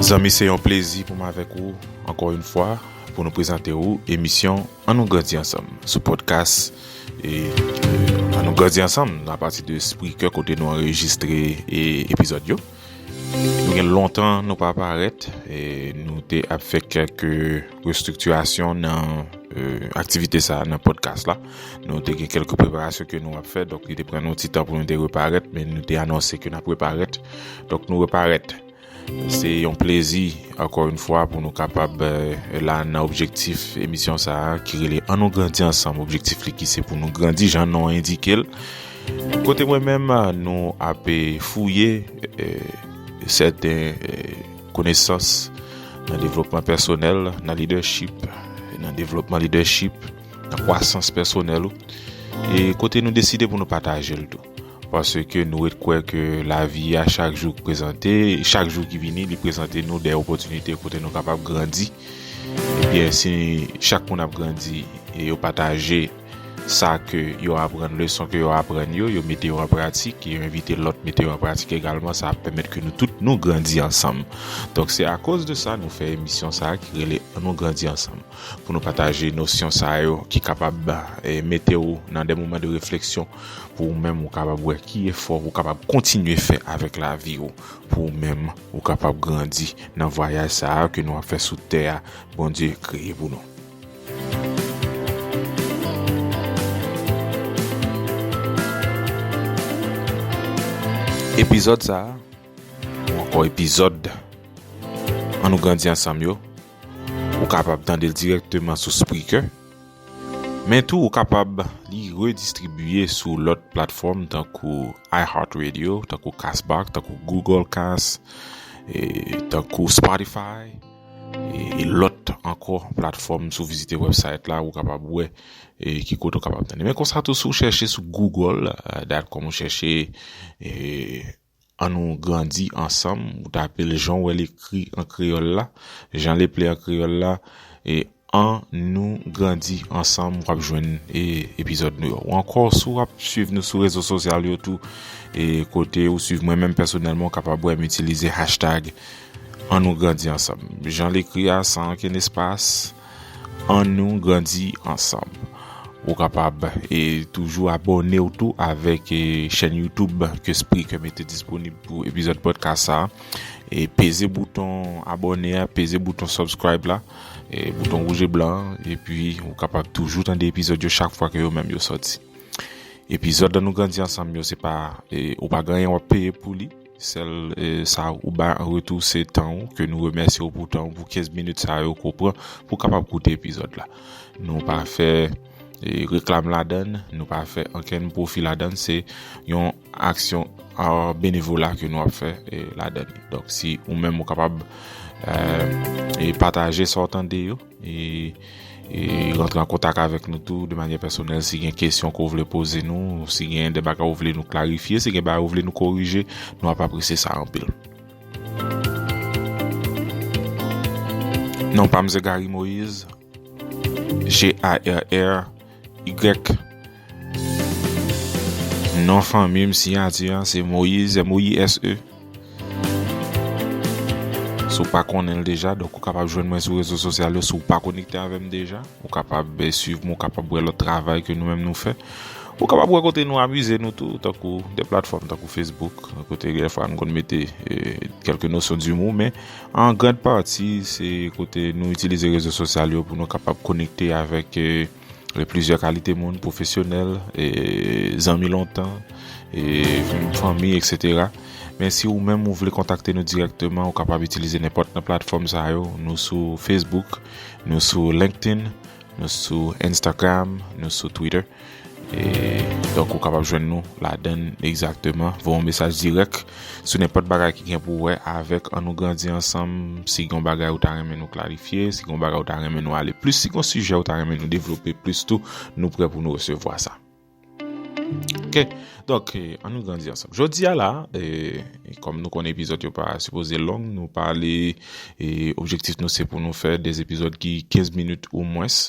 Zanmi se yon plezi pou m avèk ou ankò yon fwa pou nou prezante ou emisyon An nou grandi ansanm sou pòdkas An nou grandi ansanm a pati de Spreaker kote nou anrejistre epizòd yo. Nou gen lontan nou pa parèt e nou te ap fè kèk restriktirasyon nan aktivite sa nan pòdkas la. Nou te gen kèlke preparasyon ke nou ap fè, donk li te pran nou ti tan pou nou te reparèt, men nou te anonse ke nap reparèt, donk nou reparèt. Se yon plezi, ankò yon fwa, pou nou kapab euh, la nan objektif emisyon sa a, ki rele An nou grandi ansanm, objektif li ki se pou nou grandi, jan non endike l. Kote mwen menm, nou ap fouye euh, sèten euh, konesans nan devlopman pèsonèl, nan leadership, nan devlopman leadership, nan kwasans pèsonèl ou e kote nou deside pou nou pataje l tou paske nou ret kwè ke lavi a chak jou k prezante chak jou ki vini li prezante nou de opotinite kote nou kapab grandi ebyen si chak moun ap grandi e yo pataje sa ke yo aprann leson ke yo aprann yo yo mete yo an pratik e yo envite lòt mete yo an pratik egalman sa ap pèmèt ke nou tout nou grandi ansanm donk se akoz de sa nou fè emisyon sa ki rele an nou grandi ansanm. pou nou pataje nosyon sa yo ki kapab mete ou nan de moman de refleksyon pou ou menm ou kapab wè ki efò ou kapab kontinye fè avèk lavi ou pou ou menm ou kapab grandi nan vwayaj sa a ke nou ap fè sou tè a Bondye kreye pou nou. Epizòd sa a, ou ankò epizòd An nou grandi ansanm yo. Ou kapab tande l dirèkteman sou Spreaker, men tou ou kapab li redistribiye sou lòt platfòm tankou iHeartRadio, tankou Castbox, tankou Google Cast, tankou Spotify, e lòt ankò platfòm. Si w vizite wèbsayt la, ou kapab wè ki kote ou kapab tande. Men konsa tou, si w chèche sou Google, dat kòm ou chèche. An nou grandi ansanm, ou ta pe l jan w wè l ekri an kreyòl la, jan l eple an kreyòl la, e An nou grandi ansanm w ap jwenn epizòd nou yo. Ou ankò si w ap swiv nou sou rezo sosyal yo tou e kote ou swiv mwen menm pèsonèlman ou kapab wè m itilize hashtag An nou grandi ansanm jan l ekri a san ankenn espas. Annou grandi ansanm. Ou kapab e toujou abòne ou tou avèk chèn YouTube ke Spreaker mete disponib pou epizòd podcast sa. E peze bouton abòne a, peze bouton subscribe la, e bouton rouge et blanc an, e pi ou kapab toujou tande epizòd yo chak fwa ke yo menm yo soti. Epizòd Annou grandi ansanm yo se pa, e ou pa gen anyen wap peye pou li. Sèl sa ou bay an retou se tan ou ke nou remèsye ou pou tan ou pou 15 minit sa yo ke ou pran pou w kapab koute epizòd la. Nou pa fè reklam ladann, nou pa fè ankenn pwofi ladann, se yon aksyon benevola ke nou ap fè ladann. Donk si ou menm ou kapab pataje sa w tande yo. Rantre an kontak avèk nou tou de manye pèsonèl si gen kesyon ke ou vle poze nou, si gen de bagay ou vle nou klarifye, si gen bagay ou vle nou korije, nou ap apresye sa anpil. Non pa m se Garry Moïse, G-a-r-r. Y Non fanmi m siyati an se Moise M-O-I-S-E Si w pa konnen l deja, donk ou kapab jwenn mwen sou rezo sosyal yo. Si w pa konekte avè m deja, ou kapab swiv m, ou kapab wè lòt travay ke nou menm nou fè. Ou kapab wè kote nou amize nou tou, tankou de platfòm tankou Facebook, kote dèfwa nou konn mete kèlke nosyon d'humour men. An grand pati se kote nou itilize rezo sosyal yo pou nou kapab konekte avèk euh, plizyè kalite moun, pwofesyonèl, zanmi lontan, fanmi, etc. Men si ou menm ou vle kontakte nou direkteman, ou kapab itilize nenpòt nan platfòm sa yo. Nou sou Facebook, nou sou LinkedIn, nou sou Instagram, nou sou Twitter. Donk ou kapab jwenn nou ladann egzakteman. Voye yon mesaj dirèk sou nenpòt bagay ki gen pou wè avèk An nou grandi ansanm. Si gen yon bagay ou ta renmen nou klarifye, si gen yon bagay ou ta renmen nou ale plis, si gen yon sijè ou ta renmen nou devlope plis tou, nou prè pou nou resevwa sa. Ok, donk An nou grandi ansanm. Jodi a la, kòm nou konnen epizòd yo pa sipoze long, nou pale objektif nou se pou nou fè 2 epizòd ki 15 minit ou mwens.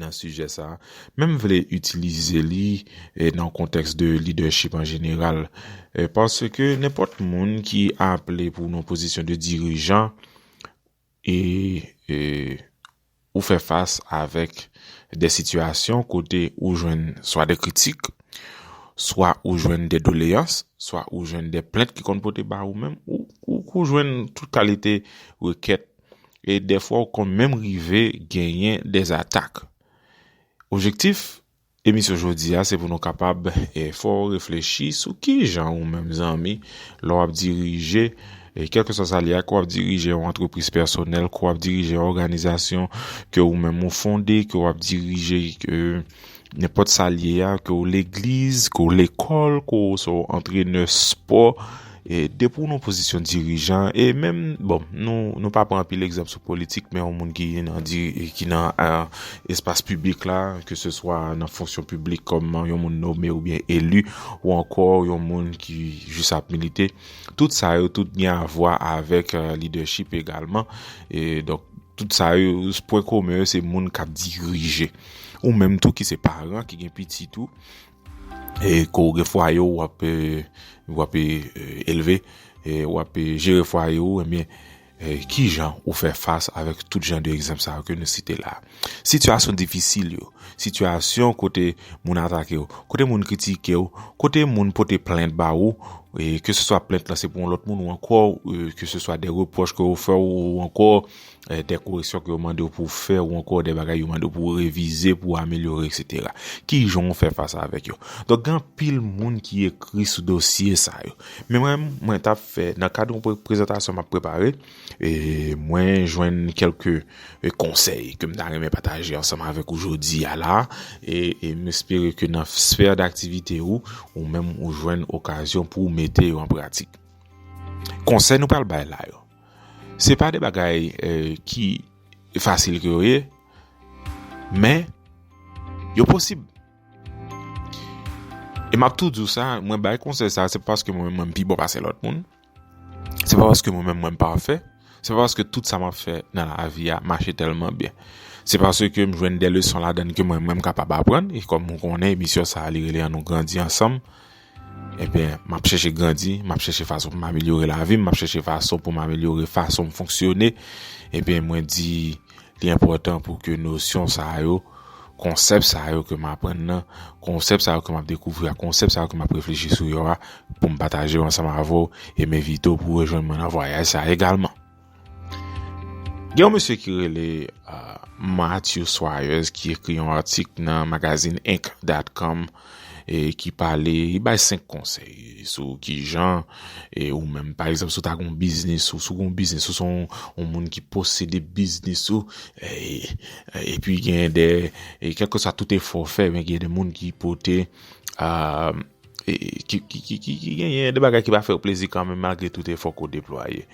nan sijè sa a, men m vle itilize li nan kontèks de lidèchip an jeneral, paske nenpòt moun ki aple pou nan pozisyon de dirijan e ou fè fas avèk de sitiyasyon kote ou jwenn swa de kritik, swa ou jwenn de doleyans, swa ou jwenn de plent ki konn pote ba ou menm, ou jwenn tout kalite rekèt E dèfwa ou konn menm rive genyen dè atak. Objektif emisyon jodi a se pou nou kapab fè w reflechi sou kijan ou menm zanmi lè w ap dirije kèlkeswa sa li a, ke w ap dirije yon antrepriz pèsonèl, ke w ap dirije yon òganizasyon ke ou menm ou fonde, ke w ap dirije. Nenpòt sa l ye a, ke w legliz, ke w lekòl, ke w se w antrenè spò, depi w nan pozisyon dirijan, e menm, bon, nou pa pran anpil egzanp sou politik, men yon moun ki nan espas piblik la, ke se swa nan fonksyon piblik kòm yon moun nome ou byen eli, ou ankò yon moun ki jis ap milite, tout sa yo, tout gen avwa avèk lidèchip egalman, e donk, tout sa yo, pwen komen yo, se moun k ap dirije. Ou menm tou ki se paran, ki gen pitit ou, e ke w gen fwaye w ap elve, w ap jere fwaye ou, enbyen, ki jan ou fè fas avèk tout jan de egzanp sa yo ke nou site la a? Sitiyasyon difisil yo, sitiyasyon kote moun atake w, kote moun kritike w, kote moun pote plent ba ou, e ke se swa plent lan se pou yon lòt moun ou ankò, ke se swa de repwòch ke yo fè ou ankò, dè koreksyon ke yo mande ou pou fè ou ankò dè bagay yo mande ou pou revize pou ou amelyore eksetera ki jan ou fè fas avèk yo donk gen anpil moun ki ekri sou dosye sa yo men mwen mwen tap fè nan kad yon prezantasyon map prepare e mwen jwenn kelke konsèy ke m ta renmen pataje ansanm avèk ou jodi a la e m espere ke nan sfè d'aktivite ou ou menm ou jwenn okazyon pou ou mete yo an pratik konsèy nou pral bay la yo. Se pa de bagay ki fasil ke yo ye, men yo posib. E map tou diw sa, mwen bay konsey sa, se pa paske mwen mwen pi bon pase lot moun, se pa paske mwen mwen mwen pafe, se pa paske tout sa map fe nan la vi a mache telman byen. Se paske m jwenn de leson la dan ke mwen mwen kapab aprann, e kom mwen konnen emisyon sa li rele an nou grandi ansanm, Enben, m ap chèche grandi, m ap chèche fason pou m amelyore lavi m, m ap chèche fason pou m amelyore fason m fonksyone. Enben, mwen di li enpòtan pou ke nosyon sa yo, konsèp sa yo ke m aprann nan, konsèp sa yo ke m ap dekouvri a, konsèp sa yo ke m ap reflechi sou yo a, pou m pataje yo ansanm avè w e m envite w pou rejwenn mwen nan vwayaj sa egalman. Gen yon mesye ki rele Matthew Swires ki ekri yon atik nan magazin Inc.com e ki pale, li bay 5 konsèy sou ki jan e ou menm pa egzanp sou ta goun biznis ou sou goun biznis ou son ou moun ki posede biznis ou e pi gen de e kèlke sa tout efò ou fè men gen de moun ki pote a Ki gen yon de bagay ki pa fè ou plezi kan men malgre tout efò ke ou deplwaye.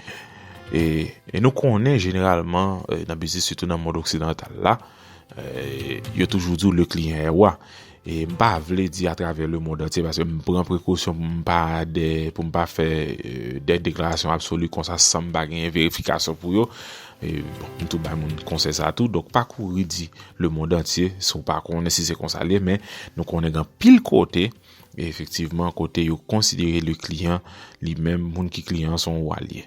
E nou konnen jeneralman nan biznis sitou nan mond oksidantal la, yo toujou di ou le kliyan e wa. E m pa vle di a travè le mond antye paske m pran prekosyon pou m pa de, pou m pa fè de deklarasyon absoli konsa san m pa gen verifikasyon pou yo. M tou bay moun konsèy sa tou, donk pa kouri di le mond antye si w pa konnen si se konsa l ye men nou konnen gen anpil kote efektivman kote yo konsidere le kliyan li menm moun ki kliyan an se yon wa l ye.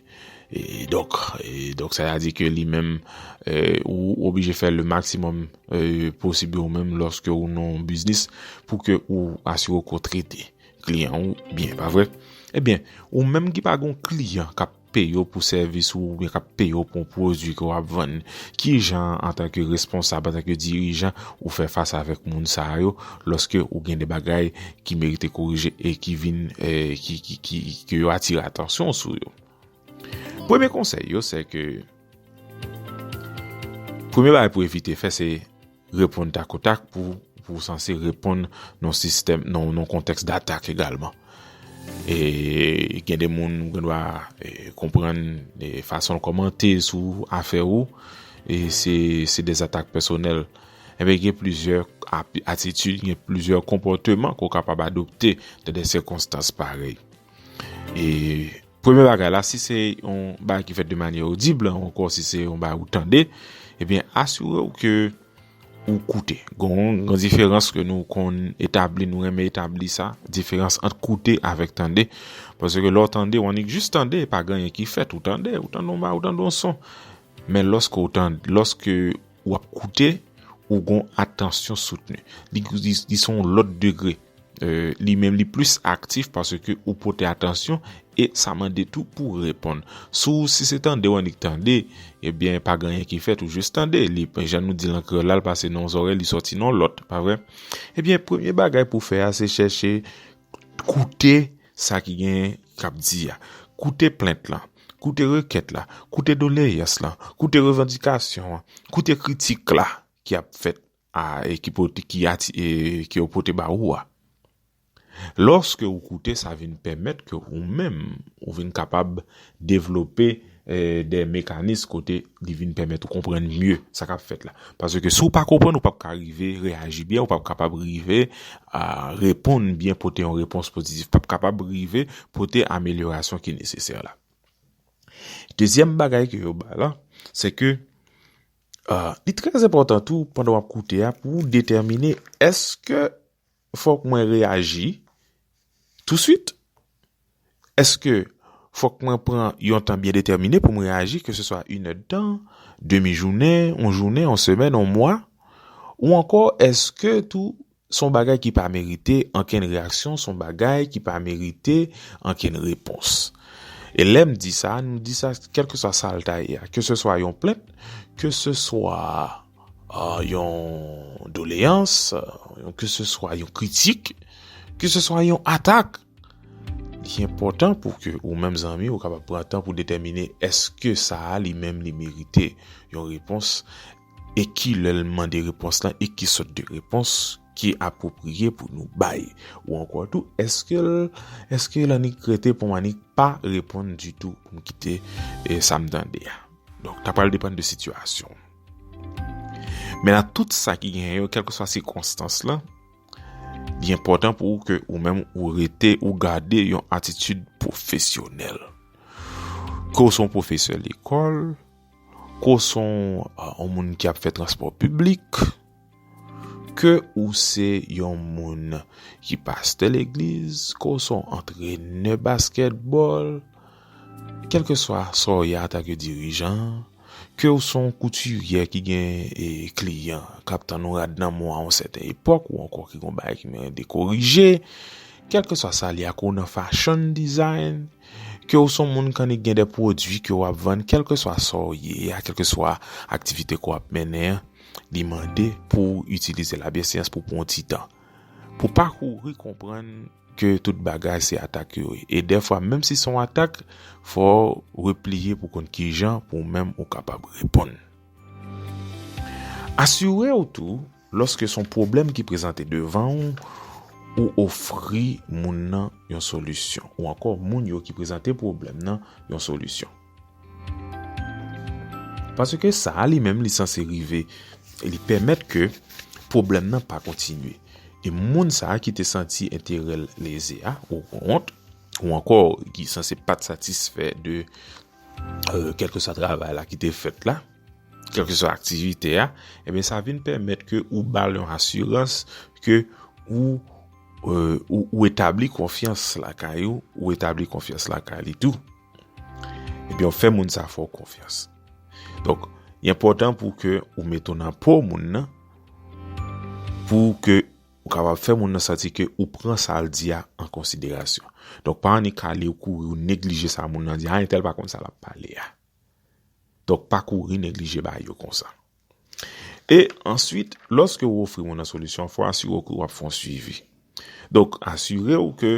Donk sa ya di ke li menm ou oblije fè le maksimòm posib yo menm lòske ou nan yon biznis pou ke ou asire w ke w trete kliyan ou byen pa vre. Ebyen ou menm ki pa gen yon kliyan k ap peye w pou sèvis ou oubyen k ap peye w pou yon pwodui ke w ap vann, ki jan antanke responsab, antanke dirijan ou fè fas avèk moun sa yo lòske ou gen de bagay ki merite korije e ki vin ke yo atire atansyon w sou yo? Premye konsèy yo se ke premye bagay pou evite fè se. Reponn takotak pou ou sanse reponn nan yon kontèks datak egalman. E gen de moun ou gen dwa konprann fason l kòmante sou afè ou e se de zatak pèsonèl. Enben gen plizyè atitid, gen plizyè konpòteman ke w kapab adopte nan de sikonstans parèy. E premye bagay la, si se yon bagay ki fèt de manye odib, an anko si se yon bagay ou tande, ebyen asire ou ke ou koute. Gon, gon diferans ke nou kon etabli, nou renmen etabli sa, diferans ant koute avèk tande. Pwese ke lò tande, ou annik jis tande, pa gen yon ki fèt, ou tande, ou tande yon bagay, ou tande yon son. Men lòske ou tande, lòske... Ou ap koute, ou gon atansyon soutni. Li son lòt degre. Li menm li plis aktif pase ke ou pote atansyon e sa mande tou pou reponn. Sou ou si se tande ou annik tande, ebyen pa gen anyen ki fèt ou jis tande. Li pa jan nou di lan kreyòl la li pase nan yon zòrèy li sòti nan lòt. Pa vre? Ebyen premye bagay pou fè a se chèche Koute sa ki genyen k ap di a. Koute plent lan. Koute rekèt la. Koute doleyans lan. Koute revandikasyon an. Koute kritik la ki ap fèt a e ki pote ki ati e ke yo pote ba ou a. Lòske ou koute sa vin pèmèt ke ou menm ou vin kapab Devlope de mekanis kote li vin pèmèt ou konprann mye sa k ap fèt la. Paske si ou pa konprann, ou p ap ka rive reyaji byen, ou p ap kapab rive reponn byen, pote yon repons pozitif, p ap kapab rive pote amelyorasyon ki nesesè la. Dezyèm bagay ke yo bay la, se ke li trèzenpòtan tou pandan w ap koute a pou ou detèmine eske. fòk mwen reyaji touswit? Èske fòk mwen pran yon tan byen detèmine pou m reyaji, keseswa inèdtan, demi jounen, yon jounen, yon semèn, yon mwa? Ou ankò èske tou s on bagay ki pa merite ankenn reyaksyon, s on bagay ki pa merite ankenn repons? E lè m di sa, nou di sa kèlkeswa sa l ta ye a, keseswa yon plent, keseswa. yon doleyans, yon keseswa yon kritik, keseswa yon atak, li enpòtan pou ke ou menm zanmi ou kapab pran tan pou detèmine eske sa a li menm li merite yon repons e ki lè l mande repons lan e ki sòt de repons ki apwopriye pou nou bay ou ankò tou eske l eske l annik rete pou m annik pa reponn ditou pou m kite sa m tande a. Donk ta pral depann de sitiyasyon. Men nan tout sa ki genyen yo, kèlkeswa sikonstans lan, li enpòtan pou ou ke ou menm ou rete, ou gade yon atitid pwofesyonèl. Ke ou son pwofesè lekòl, ke ou son yon moun ki ap fè transpò piblik, Ke ou se yon moun ki pastè legliz, ke ou se yon antrenè baskètbòl, kèlkeswa sa w ye antanke yon dirijan, ke ou se yon koutiryè ki gen kliyan k ap tann yon rad nan men w a yon sèten epòk ou ankò ki gen yon bagay ki mande korije, kèlkeswa sa l ye, ke ou nan fashion design, ke ou se yon moun ki annik gen de pwodui ke w ap vann, kèlkeswa sa w ye a, kèlkeswa aktivite ke w ap mennen an. Li mande pou w itilize labyesyans pou pran yon ti tan. Pou pa kouri konprann ke tout bagay se atak yo ye. E dèfwa menm si son atak, fò w repliye pou konn kijan pou w menm ou kapab reponn. Asire w tou, lòske son pwoblèm ki prezante devan ou, ou ofri moun nan yon solisyon. Ou ankò moun yo ki prezante pwoblèm nan yon solisyon. Paske sa a li menm li sanse rive, li pèmèt ke pwoblèm nan pa kontinye. E moun sa a ki te santi enterèl leze a, ou kont, ou ankò ki sanse pat satisfè de kèlke sa travay la ki te fèt la, kèlke sa aktivite a, e ben sa vin pèmèt ke ou bal yon asirans ke ou etabli konfyans lakay ou, ou etabli konfyans lakay li tou. Ebyen ou fè moun sa fè ou konfyans. Donk, y enpòtan pou ke ou mete w nan po moun nan, pou ke ou kapab fè moun nan santi ke ou pran sa l di a an konsiderasyon. Donk, pa annik ale ou kouri ou neglije sa moun nan di a, a entèl pa konn sa l ap pale a. Donk, pa kouri neglije ba yo konsa. E, answit, lòske ou ofri moun nan solisyon, fò asire w ke w ap fè yon swivi. Donk, asire w ke...